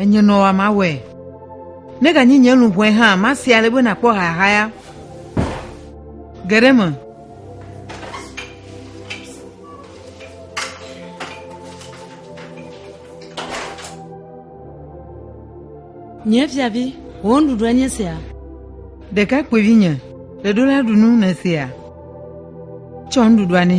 Enye nɔ wa mawɔe. Ne ganyi nye luʋɔe hã, masi ale be nakpɔ hahaya geɖe me. Nye fiavi, wò nuɖuɖu enye sia. Ɖekakpuivi nye, ɖeɖo la ɖu nu ne sia. Tsɔ nuɖuɖua ne.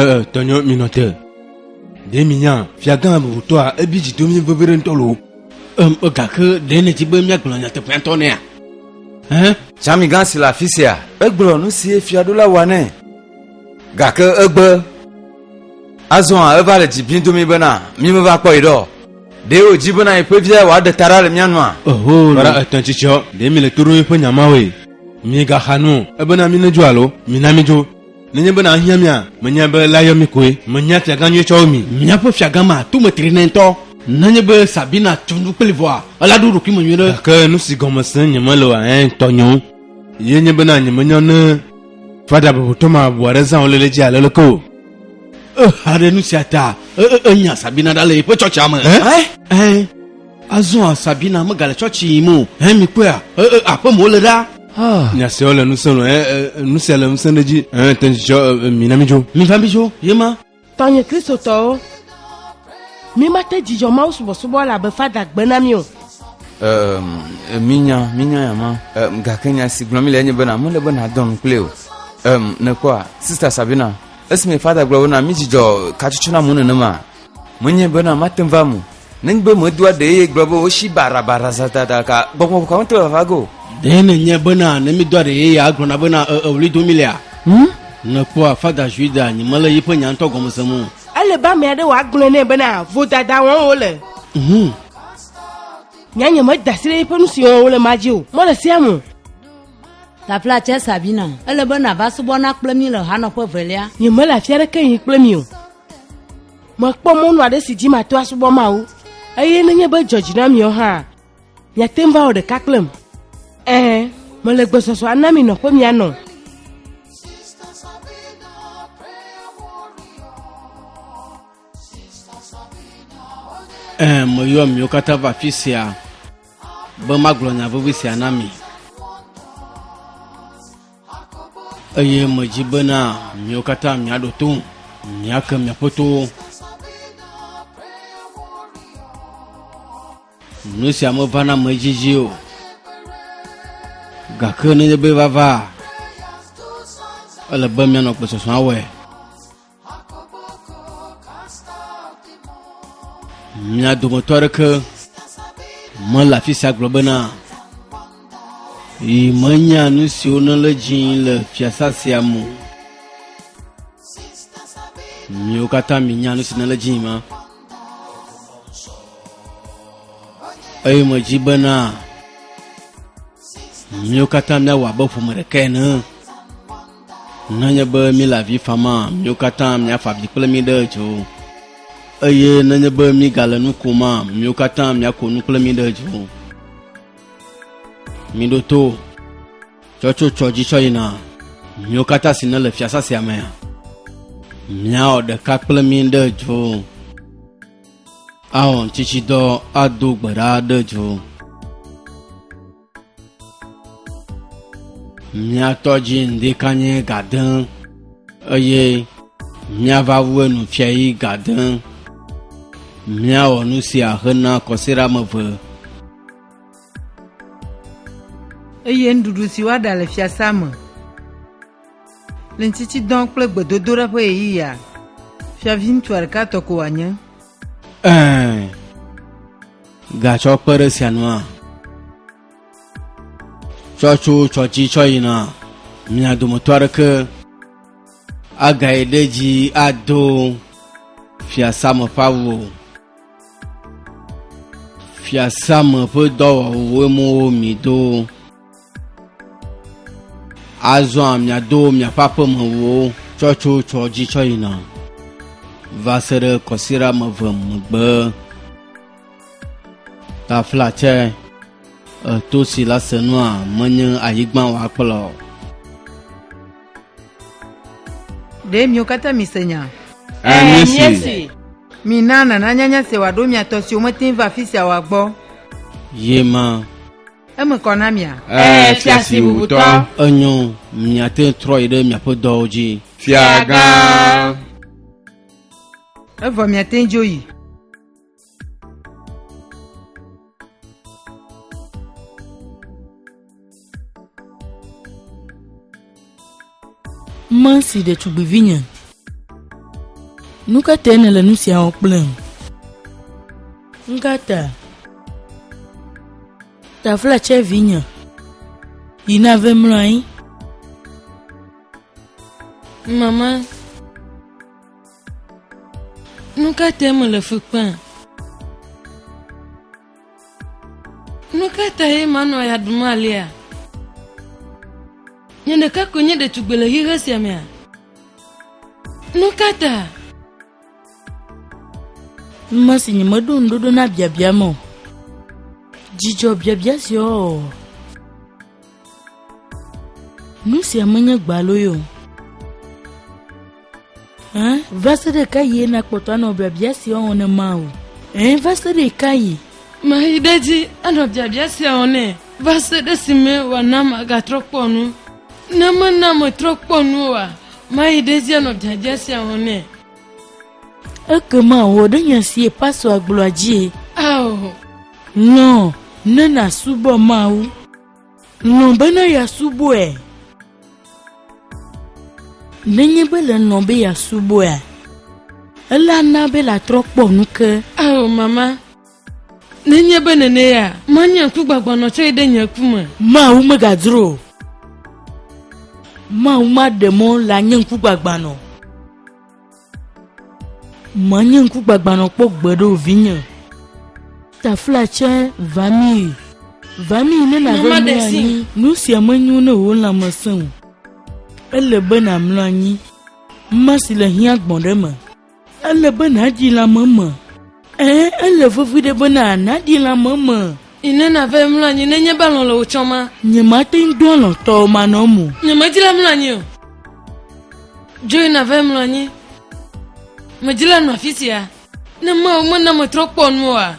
ee tɔnyɔ minɔ te ɖe minya fiagã bubutɔa ebi dzi domi vevere ŋutɔ lo em egake ɖe nèdzi be míagblɔ nyateƒea ŋutɔ nɛa hẽ Tsãmigã si le afi sia. Egblɔ nu si ye fiaɖula wɔ nɛ. Gake egbe azɔ hã eva le dzi bim do mí bena mí meva kpɔ yi ɖɔ. Ɖe wòdzi bena yeƒe via wòaɖe ta ɖa le mía nua? Oho, ƒe ɖa etɔ̃ dzi tsɔ. Ɖe mí le to ɖom yeƒe nya mawoe? Míegaxa nu o. Ebena mí nedzo alo? Mina mí dzo. Nenye be nàhiã mía, menyae be la yɔ mí koe. Menye afiagã nyui tsɔ wu mi. Míaƒe fiagã ma to me tri nɛ ŋutɔ. Nenye be Sabina tso nu kpli vɔa, ela ɖo ɖokuime nyuiɖe. Gake nusi gɔme sem nyemele oa, eŋ tɔ nyo. Ye nye bena nyemenya ne. Fada bebotɔ ma bu aɖe zã wòle le dzi ale leke o. Exa ɖe nu sia ta enya Sabina ɖa le yeƒe tsɔtsia me. Ɛ? Azɔa Sabina megale tsɔtsi yim o. Ɛ mi kpɔea? Aƒe me wole ɖa. Ah. Nya siawo le ŋusẽ lɔ. Ɛ nu sia le ŋusẽ ɖe edzi. Ɛ te ŋu tsɔ mi na mi dzo. Mi va mi dzo, yema. Tɔnye Kristotɔwo, mímate dzidzɔ Mawu subɔsubɔ la be fada gbe na mí o. Minya, minya ya ma. Gake nya si gblɔ mi le enye bena mele be nadɔ nu kple o. Nekpɔa, Sista Sabina, esime fada gblɔ bena midzidzɔ katsotso na mu nenema, menye bena mate va mu Nenigbe medoa ɖee ye gblɔ be wosi barabara zatata ka gbɔgbɔ vɔ̃ ka ŋutɔ vava ge o. Ɖee nenye bena ne mídoa ɖe ye ya agblɔna bena e e ɣli dom mílea? Hm? Nèkpɔa Fada Juida nyi mele yiƒe nya ŋutɔ gɔme sem o. Ele be ame aɖe wòagblɔe nɛ bena vodada wɔm wole. Hm. Nyanya meda asi ɖe yiƒe nu si wɔm wole ma dzi o. Mɔ le sea me. Tafla tsɛ Sabina. Ele be nàva subɔ na kple mí le hanɔƒe velia. Nyemele afi aɖeke yim kple mi o. Mekpɔ mɔnu aɖe si dzi mato asubɔ Mawu, eye nenye be dzɔdzi na miawo hã, miate ŋu va wɔ ɖeka kplem. Ɛɛ, mele gbesɔsɔ ana mi nɔƒe mianɔ. Ɛɛ, meyɔ miwo katã va afi sia be magblɔ nya vevi sia na mi. eye medzi bena miwo katã miaɖo to miake miaƒe towo nu sia mevana me dzidzi o gake nenye be vava ele be mianɔ gbesɔsɔa wɔe mia dometɔ aɖeke mele afi sia gblɔ bena yi menya nu siwo ne le dzi le fiasa sia me miwo katã minya nu si ne le dzi ma eye medzi bena miwo katã miawɔ abe ƒome ɖeka ene Nenye be míle avi fama, míwo katã míafa avi kple mí ɖe dzo. Eye nenye be mígale nu koma, míwo katã míako nu kple mí ɖe dzo. Míɖo to tsɔtsotsɔ dzi tsɔ yina, míwo katã si nele fiasa sia mea, míawɔ ɖeka kple mí ɖe dzo. Awɔ ŋutitsidɔ ado gbe ɖa ɖe dzo. mía tɔ dzi ŋdi kanye gadẽ eye míava wu enu fia yi gadẽ míawɔ nu sia hena kɔsiɖa me ve eye nuɖuɖu si woaɖa le fiasea me le ŋtitsidɔ kple gbedodoɖa ƒe ɣeyiɣia fiaviŋutsua ɖeka tɔ ko wòanye ɛɛ Gatsɔ kpe ɖe esia nua? Tsɔ tso tsɔ dzi tsɔ yina mia dometɔ aɖeke agae ɖe dzi ado fiasã me ƒe awu o. Fiasã me ƒe dɔwɔwuwo mi do. Azɔa miado miaƒe aƒemewo tsɔ tso tsɔ dzi tsɔ yina va se ɖe kɔsiɖa me ve megbe. Tafla tsɛ, eto si la se nua menye anyigba wòakplɔ. Ɖe miwo katã mise nya? Ɛ̃, míese. Mina nana nyanya se wòaɖo mia tɔ siwo mete ŋu va afi sia oa gbɔ. Ye ma. Eme kɔ na mia. Ɛɛ, fia si wutɔ. Enyo, miate ŋu trɔ yi ɖe miaƒe dɔwo dzi. Fiagã. Evɔ miate ŋu dzo yi. Mansi ɖetugbivinye, nu ka tae nèle nu sia wɔm kplem? Nu ka ta? Taflatse vinye, yi nave mlɔ anyi. Mama, nu ka tae mele fu kpem? Nu ka tae manɔ ya ɖum alea? Nye ɖeka koe nye ɖetugbe le xixe sia mea? Nu ka ta? Nume si nyemeɖo ŋuɖoɖo na biabia me o. Dzidzɔ biabia sia o. Nu sia menye gbaloe o. Hã, va se ɖe ka yie nakpɔtɔ anɔ biabia sia wɔm ne ma o? Hã, va se ɖe ka yi? Mayi ɖe dzi anɔ biabia sia wɔm ne va se ɖe si me wòana magatrɔ kpɔ nu. Ne mena metrɔ kpɔ nu oa, mayi ɖe dzi anɔ biabia sia wɔm ne. Ekema wɔ ɖe nya si pastora gblɔa dzie. Ao. Lɔ̃ ne nàsubɔ Mawu. Lɔ̃ bene yeasubɔe. Nenye be le lɔ̃ be yeasubɔea, ele ana be latrɔ kpɔ nu ke. Ao mama. Nenye be nenea, manye ŋkugbagbanɔ tsɔe ɖe nye ku me. Mawu megadzro o. Mawu maɖe mɔ le anye ŋkugbagbanɔ. Menye ŋkugbagbãnɔ kpɔ gbe ɖo vinye. Tafla tsɛ va mi. Va mi ne nàɖo mlɔ anyi. Nu sia menyo ne wò lãme sẽ o. Ele be nàmlɔ anyi. Mma si le hiã gbɔ̃ ɖe me. Ele be nàdzi lãme me. Ɛ̃, ele vevie be nàɖi lãme me. Yi ne nàva emlɔ anyi nenye be alɔ̃ le wò tsɔm hã. Nyemate ŋu do alɔ̃ tɔwò manɔm o. Nyemedi la mlɔ anyi o. Dzo yi nàva emlɔ anyi. Medi la nɔ afi sia. Ne Mawu mena metrɔ kpɔ nu oa,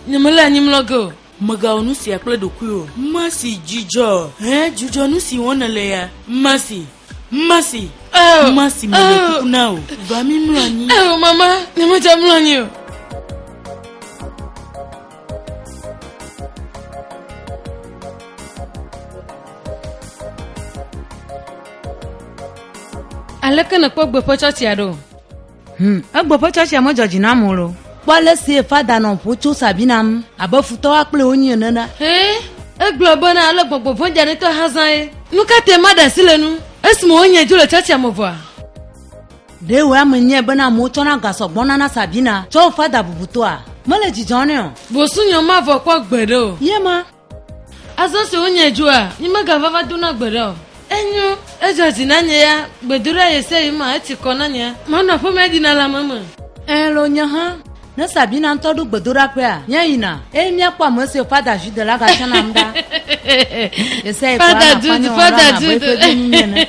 nyemele anyi mlɔ ge o. Mègawɔ nu sia kple ɖokuiwò. Mercy, Dzidzɔ! Hẽ, dzudzɔ nu si wɔm nèle ya. Mercy, Mercy! Oh! Mercy, mele kuku na wò, va mímlɔ anyi. Oh, mama, nyemedze mlɔ anyi o. Aleke nèkpɔ gbeƒetsɔtsia ɖo? Hmm, egbɔ ƒe tsɔtsia medzɔ dzi nam o lo. Kpɔ ale si fada nɔ ƒo tso sabi nam abe futɔwa kple wonyi ene na. Hɛ, egblɔ be na ale gbɔgbɔ vɔ̃ dzanetɔ hã zã ye. Nu ka te maɖe asi le nu esime wonye dzo le tsɔtsia me vɔa? Ɖe wòe ame nyɛ bena amewo tsɔna ga sɔ gbɔna na Sabina tsɔ fada bubutɔa? Mele dzidzɔ nɛ o. Bosunyɔ mavɔ kpɔ gbeɖe o. Ye ma. Azɔ se wonye dzoa, nyi megava va dona gbe ɖa o. Enyo, edzɔ dzi na nye ya, gbedoɖa ye se yi ma, etsi kɔ na nye. Manɔ aƒemea dina le ame me. Ẽ, lo nye hã. Ne Sabina ŋutɔ ɖo gbedoɖaƒea, nye yina, eye míakpɔ ame siwo Fada Jude la gatsɔ nam ɖa. Ye se yi kɔ anɔ akpanya wɔm ɖa abe eƒe vinyinyi ene.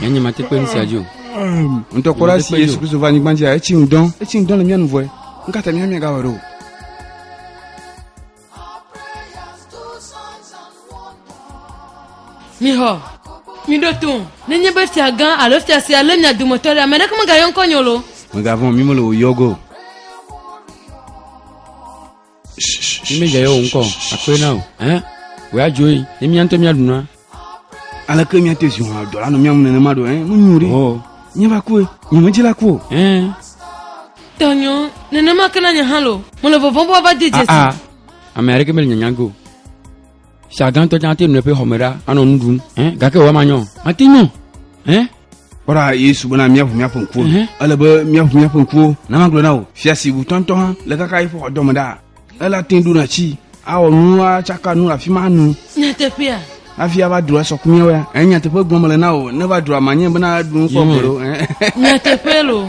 Nyanya mate kpe ŋusia dzi o. Ŋutɔkpɔla si Yesu Kristo va anyigba dzia etsi ŋdɔ etsi ŋdɔ le mía nu vɔe. Ŋkata mía mía gawɔ ɖo. Mixɔ miɖo to nenye be fia gã alo fia sia lé mia dometɔ ɖe ame ɖeke megayɔ ŋkɔ nyolo. Megavɔn mi mele wòyɔ go. Ni mi dze o ŋkɔ akpɔe na o. Ɛn, wòe adzo yi, ne mía ŋutɔ míaɖu na. Aleke míate zi wɔa dɔ la nɔ mía ŋu nenema ɖo? Ɛn, nu nyo ɖi. Ɔ. Nye va kue, nye medzi la ku o. Ɛn. Tɔnyo, nenema ke na nye hã lo. Mele vɔvɔm be woava de dzesi. Aa, ame aɖeke mele nyanya ge o. Sia gãtɔ tsã ate nɔ eƒe xɔme ɖa anɔ nu ɖum. Eh, gake wòama nyɔ. Mate nyɔ. Eh. Kpɔɖa Yesu bena míaʋu míaƒe ŋkuwo. Ele be míaʋu míaƒe ŋkuwo. Na magblɔ na wò, fia si ŋutɔ ŋutɔ hã le kaka eƒe xɔdɔme ɖa. Ele ate ŋu ɖona tsi, awɔ nu, atsaka nu le afi ma nu. Nyateƒea. Hafi ava dro asɔ ku míawo ya. Eh, nyateƒe gblɔm mele na wò. Ne va droa, manye bena ɖu nu kpɔ gbeɖo. Eh. Nyateƒe lo.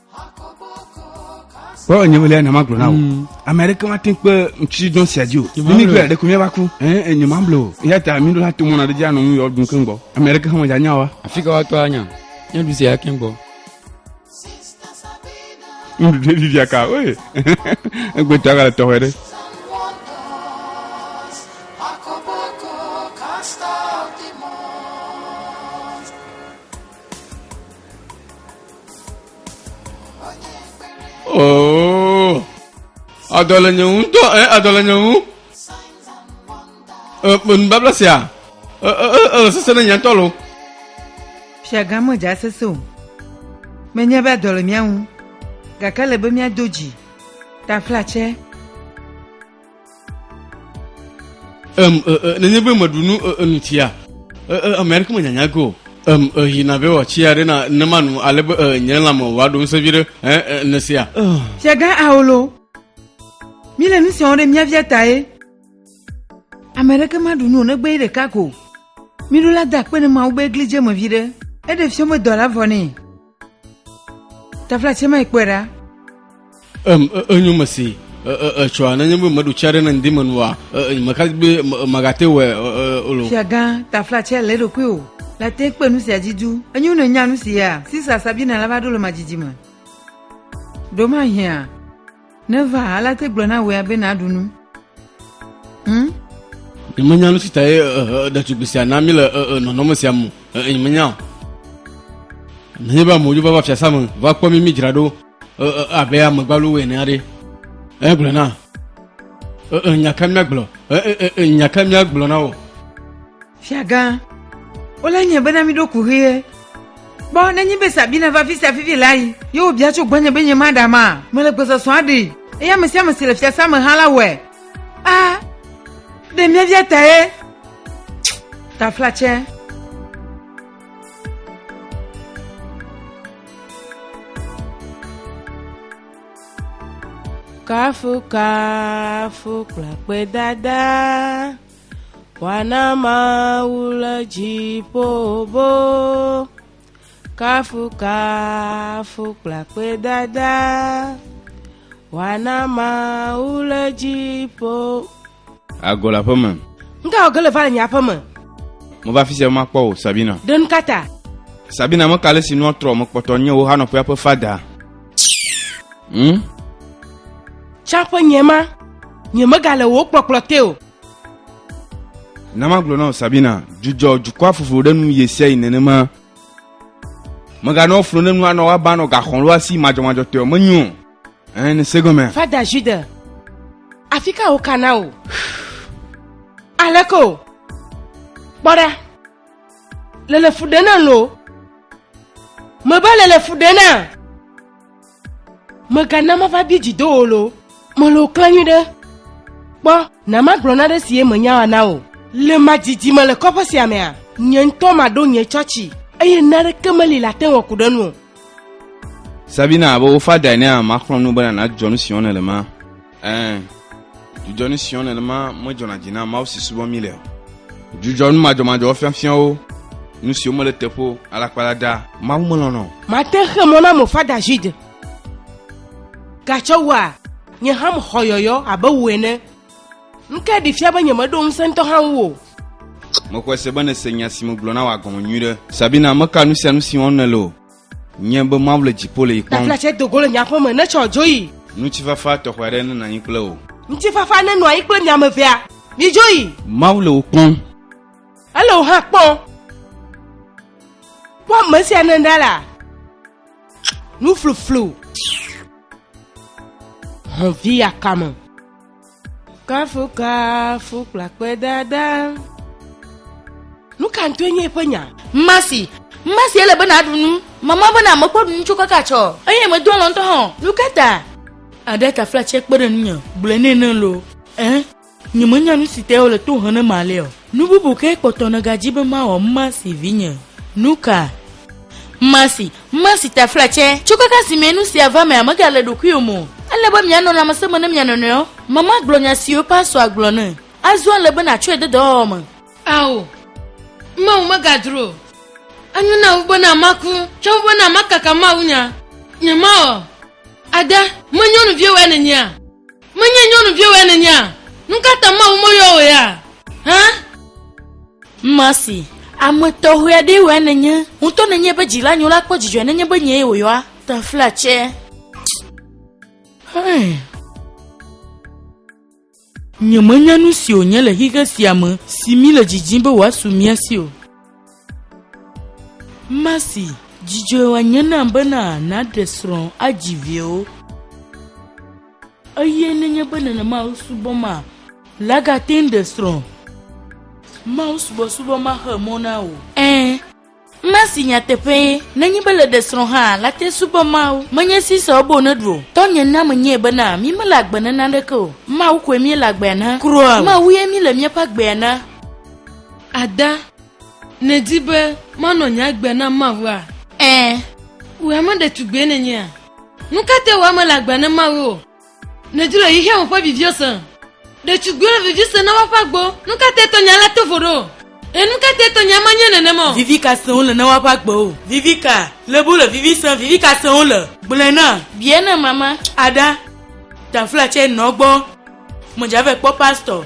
kpɔ nye wele nama gblɔ na wo mm. ame aɖeke wa te kpe ŋutsi dɔn sia dzi o mimi gbe ɖeko mi va ku ɛn nye ma blo ya ta mi ɖo la to mɔna ɖe dzi anɔ nu yɔ dun keŋ gbɔ ame aɖeke hã wɔdza nya wa. afi ka wa tɔ anya nye du sia keŋ gbɔ. nuɖuɖu ɖe vivia ka oye egbe tɔ aga le tɔxɛ ɖe. Oo. Adɔ le nye ŋu ŋutɔ ɛ adɔ le nye ŋu. E e, nubabla sia. E e e ele sese ne nye ŋutɔ lo. Fiagã medze asese o. Menye be adɔ le mía ŋu. Gake ele be míado dzi. Taflatse. Um, uh, uh, nenye be meɖu nu uh, nu tia, ame aɖeke menyanya go. Um, yina be wɔtsia ɖe na ne manu ale be nye lãme wòaɖo ŋusẽ vi ɖe ne sia. Fiagã Aolo, míle nu siawo ɖe mía via tae. Ame aɖeke maɖu nu o negbe ye ɖeka ko. Míɖo la da akpe ne Mawu be egli dze me vi ɖe. Eɖe fiɔmedɔ la vɔ nɛ. Tafla tse mai kpɔe ɖa. Em enyo me si etsɔa nenye be meɖu tsia ɖe ne ŋdi me nua meka be magate wɔ o lo. Fiagã tafla tse le ɖokui o la te kpe nu sia dzi du. Enyo ne nya nu sia Sisa Sabina la va ɖo le madzidzi me. Ɖo mahia. Neva alea te gblɔ na wòe be naɖu nu. Hmm? Nyemenya nu si ta ye ɖetugbi sia na mi le nɔnɔme sia mu. Nyemenya o. Nenye be amewo va va fiasa me va kpɔ mi midzra ɖo abe amegbalowo ene aɖe. Egblɔ na. Nya ka míagblɔ? Nya ka míagblɔ na wo? Fiagã, wole nye bena miɖo ku ʋie. Kpɔ nenye be Sabina va fi sia fifi la yi, ye wòbia tso gbɔnye be nye maɖa ma. Mele gbɔsɔsɔ aɖe, eye ame sia ame si le fiasã me hã la wɔe. A, ɖe mía via ta ye. Taflatsɛ. Kafu kafu kple akpedada. Wana Mawu le dziƒo bo, kafukafu kple akpedada. Wana Mawu le dziƒo. Ago le aƒeme. Nga wɔ ge le va le nye aƒeme. Mo va fisia ma kpɔ o, Sabina. Ɖe nu kata. Sabina me kale si nua trɔ me kpɔtɔ nye wo hanɔ ƒea ƒe fada. Hmm? Tsa ƒe nye ma, nye mega le wo kpɔkplɔ te o. na magblɔ na sabina dzudzɔ dukɔa fofo ɖe nu ye sia yi nenema meganɔ flo ne nua nɔ woaba nɔ gaxɔn lo asi madzɔmadzɔ tɔe menyo ɛn ne segɔmɛ fada jude afi ka wo kana o aleko kpɔɖa lele fu ɖe na lo mebe lele fu ɖe na Megana mava bie dzi do wò lo. Mele wò klã nyui ɖe. Kpɔ, na magblɔ naɖe si ye menya wa na wò. Le ma dzidzi me le kɔƒe sia mea? Nye ŋutɔ maɖo nye tsɔtsi. Eye naɖeke meli le ate ŋu aku ɖe nu o. Sabina, be wo fadae nea, maxlɔ̃ nu bena nàdzɔ nu si wɔm nèle ma. Ɛɛ, dzudzɔ ni siɔ nenema medzɔna dzi na Mawu si subɔ mí le o. Dzudzɔ nu madzɔmadzɔwo fiafiawo, nu siwo mele teƒe o, alakpalada, Mawu melɔ̃na o. Mate xe mɔ na mofa David. Gatsɔ wua, nye hã mexɔ yɔyɔ abe wò ene. Nukae ɖi fia be nyemeɖo ŋusẽ ŋutɔ hã ŋu o? Mexɔe se be nèse nya si megblɔ na wò agɔme nyuiɖe. Sabina, meka nu sia nu si wɔm nèle o. Nye be Mawu le dziƒo le yi kpɔm. Tafla tsɛ dogo le nye aƒe me ne tsɔ dzo yi. Ŋutifafa tɔxɛ aɖe nenɔ anyi kple wò. Ŋutifafa nenɔ anyi kple mi ame evea. Midzo yi. Mawu le wò kpɔm. Ele wò hã kpɔm. Kpɔ ame sia ne ɖa la. Nufluflu. Hɔn vi akame. Kafukafu kple akpedada. Nu ka ŋutɔe nye eƒe nya? Masi, masi ele be nàɖu nu. Mama bena mekpɔ ɖu nu tso kaka tsɔ. Eye medo alɔ ŋutɔ hã. Nu ka ta? Aɖe ta flatse kpe ɖe ŋunye, gblɔe nɛ ne loo. Ẽ, nyemenya nu si tae wole to hem ne malea o. Nu bubu kae kpɔtɔ nègadi be mawɔ Mercy vinye? Nuka? Mercy, Mercy ta flatsɛ, tso kaka simee nu sia va mea megale ɖokuiwò me o. Ele be mianɔ lãmesẽ me ne mia nɔnɔewo. Mama gblɔ nya siwo pastor gblɔ ne. Azɔ ele be nàtsɔe de dɔwɔwɔ me. Ao, Mawu megadro o. Enyo na wu bena maku tsɔ wu bena makaka mawunya. Nyemawɔ. Ada, me nyɔnuviwoe nènyea? Menye nyɔnuviwɔe nènyea? Nukata Mawu meyɔ wò ya hã? Mercy, Ame tɔxɛ aɖee wɔe nènye. Wò ŋutɔ nènye eƒe dzila nyo la kpɔ dzidzɔe nenye be nyee wòyɔa. Tafla tsɛ. Hɛn. Nyemenya nusi wònye le xixe sia me si míle didim be wòasu mía si o. Masi, dzidzɔe wòanye nam bena nàɖe srɔ̃ adzi viwo. Eye nenye be nenema wosubɔ ma, lagate ŋu ɖe srɔ̃. Mawu subɔsubɔ maxe mɔ na wò. Ẽ, Masi nyateƒee, nenye be le ɖe srɔ̃ hã, late subɔ Mawu. Menye si sɔ ebe wòneɖu o. Tɔnye na menyɛ bena mí mele agbe na naneke o. Mawu koe míele agbea na. Kura, Mawue míele míaƒe agbea na. Ada, nèdi be manɔ nye agbe na Mawua? Ẽ, wò ame ɖetugbue nènyea? Nu ka tae wò ame le agbe na Mawu o? Nèdi le xexea me ƒe viviwo se? Ɖetugbiwo le vivi sem na woaƒe agbewo. Nu ka tae tɔnye alé to vo ɖe wò? Ẽ, nu ka tae tɔnye ama nyuie nenema o? Vivi ka sem wole na woaƒe agbewo? Vivi ka lebe wole vivi sem? Vivi ka sem wole? Gblɔe na. Bia na mama. Ada, Danfla tsɛ nɔ gbɔ. Medzave kpɔ pastor.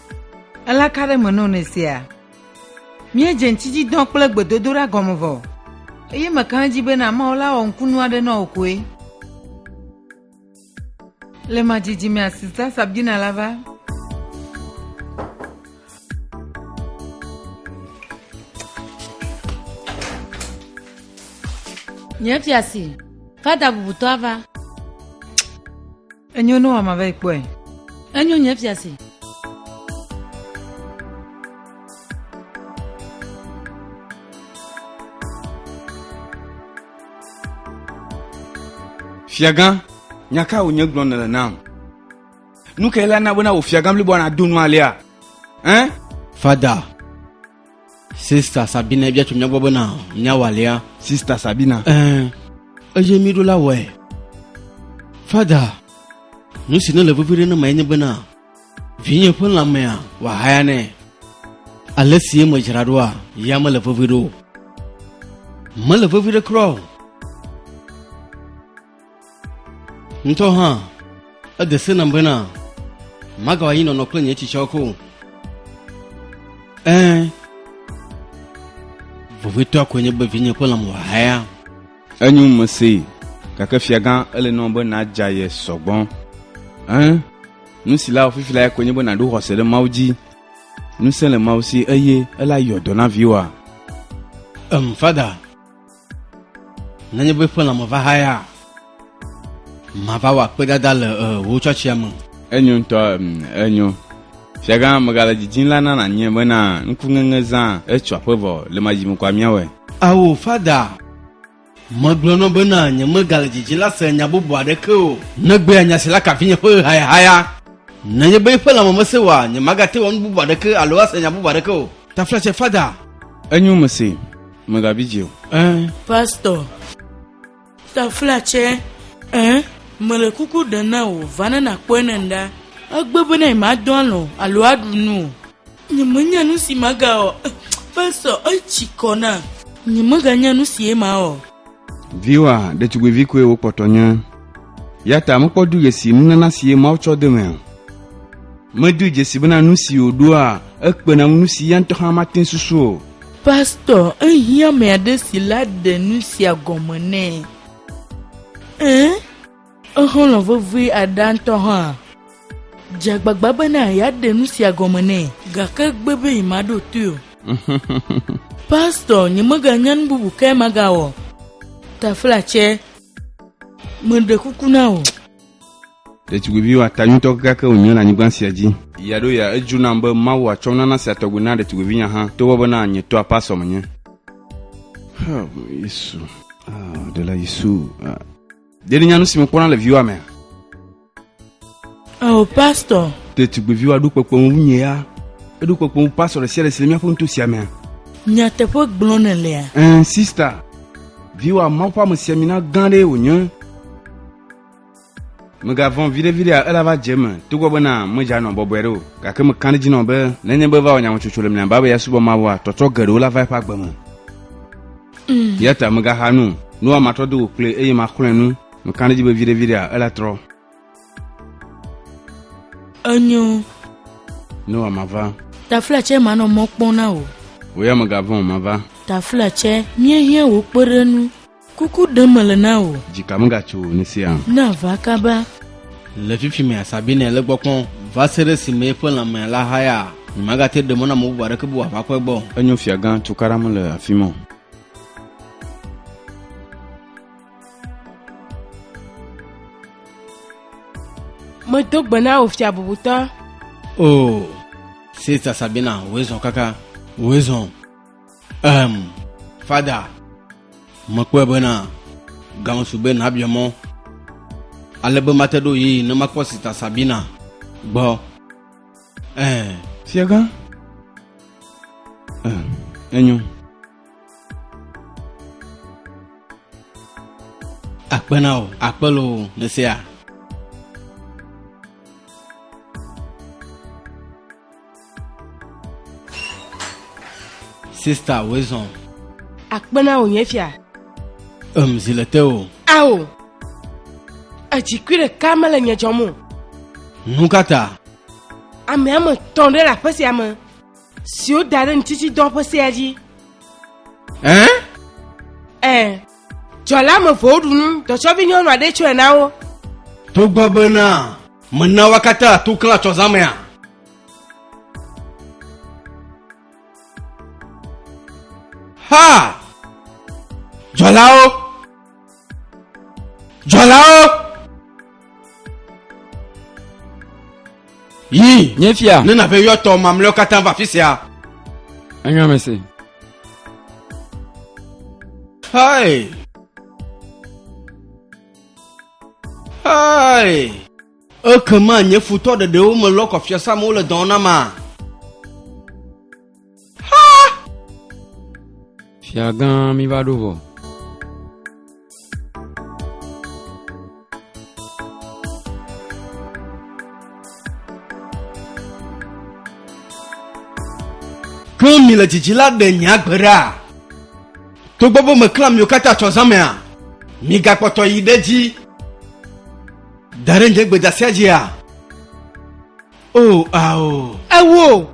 Ele ka ɖe me na wò ne sea? Míedze ŋtsidzidɔ kple gbedodoɖa gɔme vɔ, eye meka ɖe edzi bena Mawu la wɔ ŋkunu aɖe na wò koe. Le ma dzidzi mea Sista Sabdina la va. Nye fiasi, fada bubutɔ ava. Enyo ne wòama va yi kpɔe. Enyo nye fiase. Fiagã, nya ka wònye gblɔm nèle nam? Nu kae la na bena wò fiagã bliboa nado nu alea? Ɛn? Fada, Sista Sabina bia tso mía gbɔ bena míawɔ alea. Sista Sabina. Ɛɛ, eye mí ɖo la wɔe. Fada, nu si ne le vevi ɖe ne ma enye bena vinye ƒe lãmea wòahaya nɛ. Ale si ye medzra ɖoa, ya mele vevi ɖo. Mele vevi ɖe kura o. Ŋutɔ hã, ede se nam bena magawa anyi nɔnɔ kple nye tsitsɔ ko. Ẽ, vovitɔa koe nye be vinye ƒe lãme wòahaya. Enyo mesee, gake fiagã, ele nɔ be nàdza ye sɔgbɔ. Ẽ, nu si le awɔ fifi lae koe nye be nàɖo xɔse ɖe Mawu dzi. Ŋusẽ le Mawu si, eye ele ayɔ dɔ na viwòa. Em, Fada. Nenye be ƒe lãme va haya, mava wɔ akpedada le wò tsɔtsia me. Enyo ŋutɔ, enyo. Fiagã, megale didim la na nànyae bena ŋkuŋeŋe zã etso aƒe vɔ le ma dzi me kɔa míawɔe. Ao, Fada, megblɔ na wò bena nyemegale didim la se nya bubu aɖeke o. Negbea nya si la ka vinye ƒe hayahaya. Nenye be eƒe lãme mesẽ oa, nyemagate wɔ nu bubu aɖeke alo ase nya bubu aɖeke o. Taflatse, Fada. Enyo, mesee. Mègabi dzi o. Ẽ. Pastɔ. Taflatsɛ. Ẽ. Mele kuku ɖe na wò, va ne nàkpɔe ne ŋɖa. Egbe be ne madɔ alɔ̃ alo aɖu nu o. Nyemenya nu si magawɔ. Pastɔ. Etsi kɔ nam. Nyemeganya nu sie mawɔ. Viwa ɖetugbivi koe wokpɔtɔ nye. Yata mekpɔdu ɣesi nunana si ye Mawu tsɔ de me o. Medu dzesi bena nu si wòɖoa ekpena ŋu nu si ya ŋutɔ hã mate susu o. Pastor, ehiã ame aɖe si la ɖe nu sia gɔme nɛ. Ẽ? Exlɔ̃ vevie aɖea ŋutɔ hã dze agbagba bena yeaɖe nu sia gɔme nɛ, gake egbe be yemaɖo toe o. Pastor, nyemeganya nu bubu kae magawɔ. Taflatse, Meɖe kuku na wò. Ɖetugbivi wɔatanyuitɔ kekeake wònye le anyigba sia dzi. Ɣia ɖo ɣia, edzu nam be Mawu atsɔ nunana sia tɔgbi na ɖetugbivinya hã, togbɔ bena nye tɔa pastor menye. Help me, Yesu. Ah, Ɖela Yesu. Ah. Ɖe nènya nu si mekpɔna le viwa mea? Eo, pastɔ. Ɖetugbiviwa ɖo kpekpe ŋu wu nye ya. Eɖo kpekpe ŋu pastɔ ɖe sia ɖe si le míaƒe nuto sia mea. Nyateƒe gblɔm nèlea? Ɛ̃, sista. Viwa, Mawu ƒe amesiamina gã aɖee wònye. Mègavɔ̃ viɖeviɖea ela va dze eme, togbɔ bena medze anɔ bɔbɔe aɖe o. Gake mekã ɖe edzi nɔ be nenye be eva wɔ nyametsotso le mia me be asubɔ Mawua, tɔtrɔ geɖewo la va eƒe agbe me. Mm. Eya ta megaxa nu, nua matrɔ do go kple eye maxlɔe nu. Mekana edzi be viɖeviɖea ela trɔ. Enyo. Noa mava. Tafla tsɛ manɔ mɔ kpɔm na wò. Wò ya megavɔ̃ o mava. Tafla tsɛ míehiã wò kpeɖenu. Kuku ɖem mele na wò. Dzi ka megatso ne sia. Na va kaba. Le fifi mea Sabine le gbɔ kpɔm va se ɖe esime eƒe lãmea la haya. Nyemagate ɖe mɔ na ame bubu aɖeke be wòava kpɔe gbɔ o. Enyo fiagã Tukara mele afi ma o. Medo gbe na wò fia bubutɔ. Oo, Sista Sabina, wòe zɔ kaka. Wòe zɔ. Ehem, Fada, mekpɔe bena gaŋ su be nàbia mɔ ale be mate ɖo ɣeyiɣi ne makpɔ Sista Sabina gbɔ. Ɛɛ. Fiagã. Ɛɛ, enyo. Akpe na wò, akpe loo, nèsea? Sista Wezɔn. Akpena wò nye fia. Em zi le te o. Ao. Edzikui ɖeka mele nye dzɔm o. Nu ka ta? Ame ame tɔn ɖe le aƒe sia me siwo da ɖe ŋutiti dɔ ƒe sea dzi. Ɛn? Ɛn. Dzɔla ame evewo ɖu nu, dɔtsɔvi nyɔnu aɖe tsɔe na wo. Togbɔ bena mena wo katã to klã tsɔzãmea. Ha! Dzɔlawo! Dzɔlawo! Yi, nye fia. Ne nàve yɔtɔ mamlɛwo katã va afi sia. Enyo me se. Hai. Hai. Ekema nye futɔ ɖeɖewo melɔ kɔ fiasã amewo le dɔwɔna ma. Fia gã mi va ɖo vɔ. Klɔ mi le dzidzi la ɖe nye agbe ɖa. Togbɔ be meklã miwo katã tsɔ zã mea, migakpɔtɔ yi ɖe dzi. Da ɖe nye gbedasia dzia. O, ao. E wò.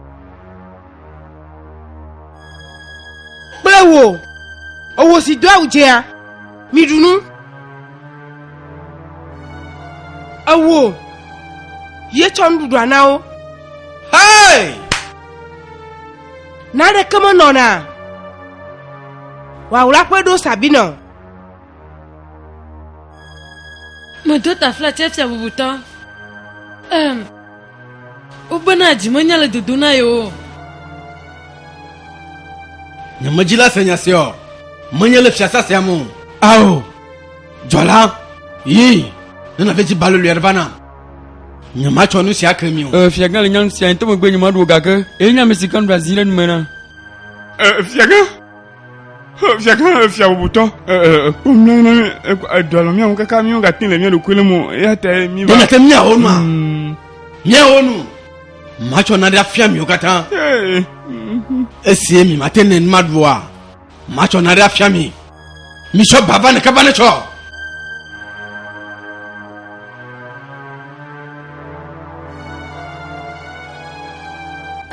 Kple wò. O wò si do awu dzea, miɖu nu. E wò. Ye tsɔ nuɖuɖua na wo. Hei! Naɖeke menɔna. Wawla ƒe ɖo sabina o. Medo taflatse fia bubutɔ. Em. Wobena dzimenya le dodo na yewo. Nye medzila se nya sia o. Menye le fiasã sia me o. Ao, dzɔla, yi, ne nàve dzi balolo aɖe va nam. Nyematsɔ nu sia ke mi o. Ee, fiagã le nya nu sia ŋutɔ megbe nyemaɖo o, gake ye nye ame si ke nuɖe azi ɖe nu me na. Ee, fiagã. Fiagã fia bubutɔ kpɔmlɔnɔ edɔlɔ miawo kaka miawo gate le mia ɖokui le mo eya ta mi va. Mena te miawo nua hmm. miawo nu matsɔ naɖe afia miwo katã esie mi mate ne ma ɖua matsɔ naɖe afia mi mitsɔ bava ne kaba ne tsɔ.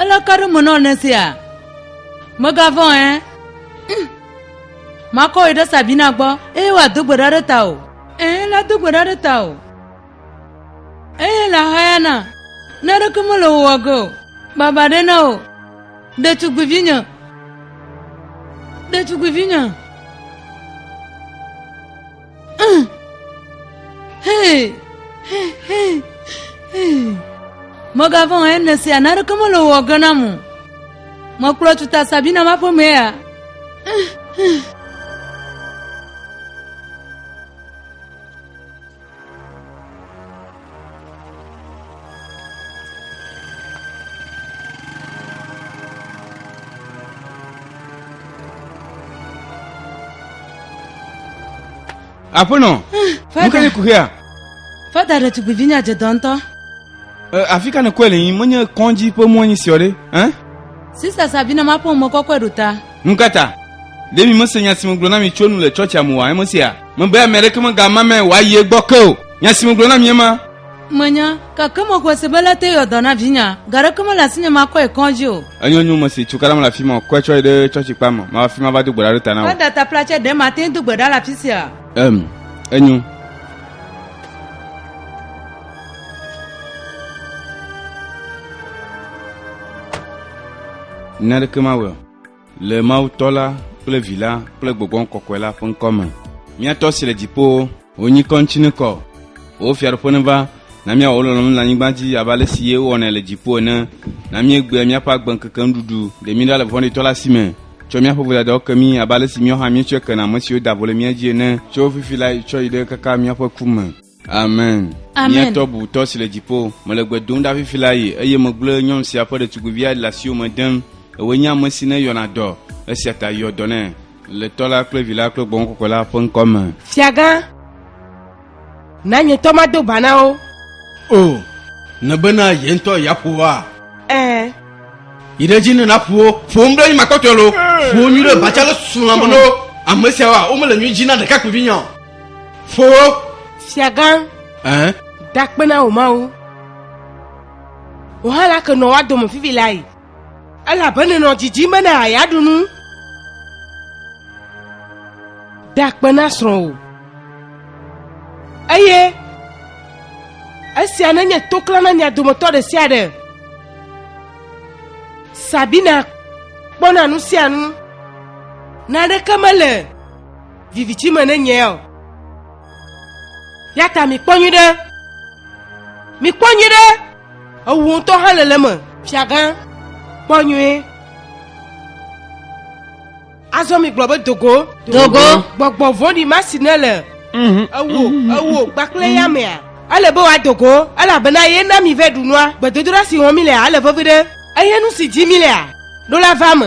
Ele ka ɖe me nɔ ne sia. Mègavɔ̃ ɛ. Hm. Makɔ wò ɖe Sabina gbɔ eye wòado gbe ɖa ɖe ta o. Ẽ, la do gbe ɖa ɖe ta o. Eye la hayana, ne ɖeke mele wò wɔ ge o. Baba ɖe na wò, ɖetugbivinye. Ɖetugbivinye. Mègavɔ̃ o, ene sia naneke mele wò ge na mo. Mekplɔ tuta Sabina ƒe aƒeme ya. aƒenɔ nu ka ne ku hea fada ɖetugbivi nya dze dɔ ŋutɔ afi ka ne kɔe le yim menye kɔdzi ƒe mɔnyi siɔ ɖe sista sabina maƒo mɔ kɔkɔe ɖo ta Nu ka ta? Ɖe miemese nya si megblɔ na mi tso enu le tsɔtsia me oa? Eme sia mebe ame aɖeke megama me wòayi egbɔ ke o. Nya si megblɔ na mi ema. Menya, gake mexɔe se be ele te yewɔ dɔ na vinye. Ga aɖeke mele asinye makɔe kɔdzi o. Enyo nyo mesi tso kala mele afi ma o. Kɔe tsɔ yi ɖe tsɔtsi kpa me. Mava afi ma ava do gbe ɖa ɖe ta na wò. Ke datapla tsɛ, ɖe mate ŋu do gbe ɖa le afi sia? Em, enyo. Nya ɖeke mawɔe o. Le Mawu tɔ la kple vi la kple gbɔgbɔ kɔkɔe la ƒe ŋkɔ me. Mía tɔ si le dziƒowo, wò nyikɔ ŋuti nekɔ. Wò fiaɖuƒe neva, na míawɔ wò lɔlɔ̃nu le anyigba dzi abe ale si ye wowɔnɛ le dziƒo ene. Na míegbea míaƒe agbe ŋkeke nuɖuɖu, ɖe mí ɖa le vɔ̃ɖitɔ la si me. Tsɔ míaƒe vodadawo ke mí abe ale si míawo hã míetsɔe kena ame siwo da vo le mía dzi ene. Tso fifi lae tsɔ yi ɖe kaka míaƒe ku me. amen miatɔ bubutɔ si le dziƒo mele gbe dom ɖa fifi la yi eye megblẽ nyɔnu sia ƒe ɖetugbivia le asiwo me dem ewoe nye ame si ne yɔna dɔ esia ta yɔ dɔ nɛ le tɔ la kple vi la kple gbɔn kɔkɔ la ƒe ŋkɔ me fiagã na nye tɔ mado ba na wo o nebena ye ŋutɔ yeaƒo woa ɛɛ yi ɖe dzi ne naƒo wo ƒo ŋu ɖe yi makɔtɔe lo ƒo nyui ɖe batsa le sulame no ame siawoa womele nyui dzi na ɖekakpuivi nya o Foo! Fiagã! Ɛɛ? Dakpe na wò mawu. Wò hã la ke nɔ woa dome fifi la yi. Elabe nenɔ didim bena àya ɖu nu. Dakpe na srɔ̃wò. Eye esia nenye toklã na mia dometɔ ɖe sia ɖe. Sabina kpɔna nu sia nu. Naneke mele viviti me ne nyea o. Ya ta mikpɔ nyui ɖe. Mikpɔ nyui ɖe. Ewu ŋutɔ hã le le me. Fiagã, kpɔ nyui. Azɔ migblɔ be dogo. Dogo. Gbɔgbɔ vɔɖi ma si ne le. Mhm. Ewo, ewo, gbakple ya mea. Ele be wa dogo, elabena ye na mi vɛ ɖunua. Gbedodoɖa si wɔm mi lea, ele vevi ɖe. Eye nu si dzi mi lea, ɖo la va me.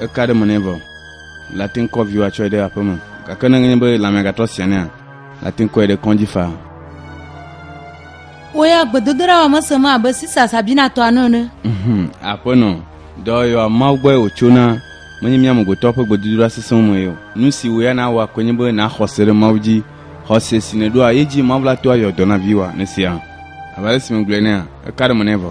Eka ɖe me nɛ vɔ. Late ŋu kɔ viwo atsɔe ɖe aƒeme. Gake ne enye be lãmea gatrɔ sia nea, late ŋu kɔe ɖe kɔdzi faa. Wò ya gbedodoɖa wɔ mese me abe Sisa Sabinatɔa nu ene. Mhm, Aƒenɔ, dɔyɔa Mawu gbɔe wòtsona, menye mía amegbetɔwo ƒe gbedodoɖa sesẽwo mee o. Nu si wò ya nàwɔ koe nye be nàxɔ xɔse ɖe Mawu dzi. Xɔse si nèɖoa ye dzi Mawu la toa yɔ dɔ na viwòa. Nèsea? Abe ale si megblɔe enea, eka ɖe me nɛ vɔ.